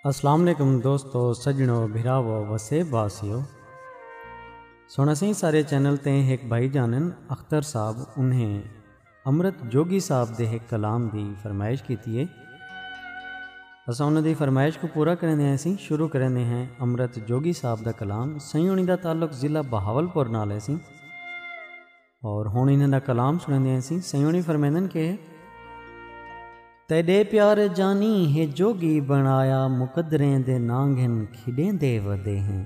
السلام علیکم دوستو سجنو بھراو وسیب واسیو سنسیں سارے چینل تے ایک بھائی جانن اختر صاحب انہیں امرت جوگی صاحب دے ہک کلام دی فرمائش کیتی ہے۔ اساں انہاں دی فرمائش کوں پورا کریندے ہیسیں۔ شروع کریندے ہیں امرت جوگی صاحب دا کلام۔ سئیں ہنی دا تعلق ضلع بہاولپور نال ہیسی۔ اور ہن انہاں دا کلام سنیندے ہیسیں۔ سئیں ہنی فرمیندن کہ۔ تیڈے پیار جانی ہے جوگی بنایا مقدریں دے نانگھن کھیڈیندے ودے ہیں۔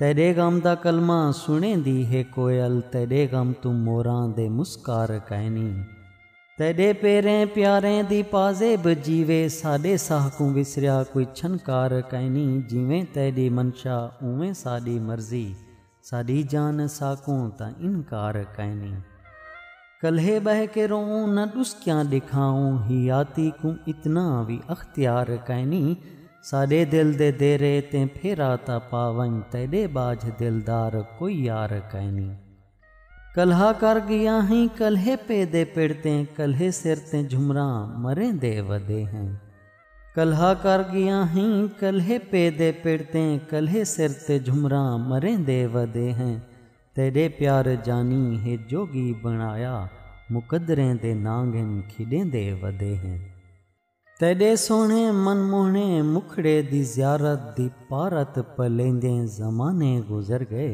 تیڈے غم دا کلمہ سنڑیندی ہے کوئل تیڈے غم توں موراں دے مسکار کائنی تیڈے پیریں پیاریں دی پازیب جیوے ساڈے ساہ کوں وسریا کوئی چھنکار کائنی جیویں تیڈی منشا اونویں ساڈی مرضی ساڈی جان ساکوں تاں انکار کائنی۔ کلھے ٻہہ کے روؤں نہ ݙسکیاں ݙکھاؤں حیاتی کوں اتنا وی اختیار کائنی ساݙے دل دے دیرے تیں پھیرا تاں پا ونڄ تیݙے ٻاجھ دلدار کوئی یار کائنی کلھا کر ڳیا ہیں کلھے پے دے پڑ تیں کلھے سر تیں جھمراں مریندے ودے ہیں کلھا کر ڳیا ہیں کلھے پے دے پڑ تیں کلھے سر تیں جھمراں مریندے ودے ہیں تیݙے پیار جانی ہے جوڳی بݨایا مقدریں دے نانگھن کھیݙیندے ودے ہیں تیݙے سوہݨے من موہݨے مکھڑے دی زیارت دی پارت پلیندیں زمانے گزر ڳئے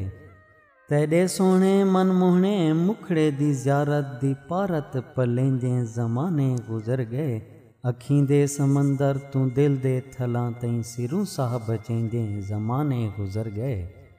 تیݙے سوہݨے من موہݨے مکھڑے دی زیارت دی پارت پلیندیں زمانے گزر ڳئے اکھیں دے سمندر توں دل دے تھلاں تئیں سروں ساہ بچیندیں زمانے گزر ڳئے۔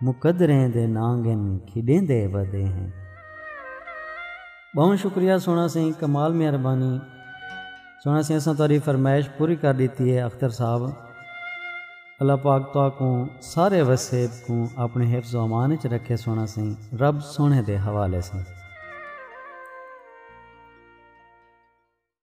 مقدریں دے نانگن کھیڈیندے ودے ہیں۔ بہوں شکریہ سونا سئیں کمال مہربانی سونا سئیں اساں تہاڈی فرمائش پوری کر ڈیتی ہے اختر صاحب اللہ پاک تہاکوں سارے وسیب کوں اپنے حفظ و امان وچ رکھے سونا سئیں رب سونے دے حوالے سئیں۔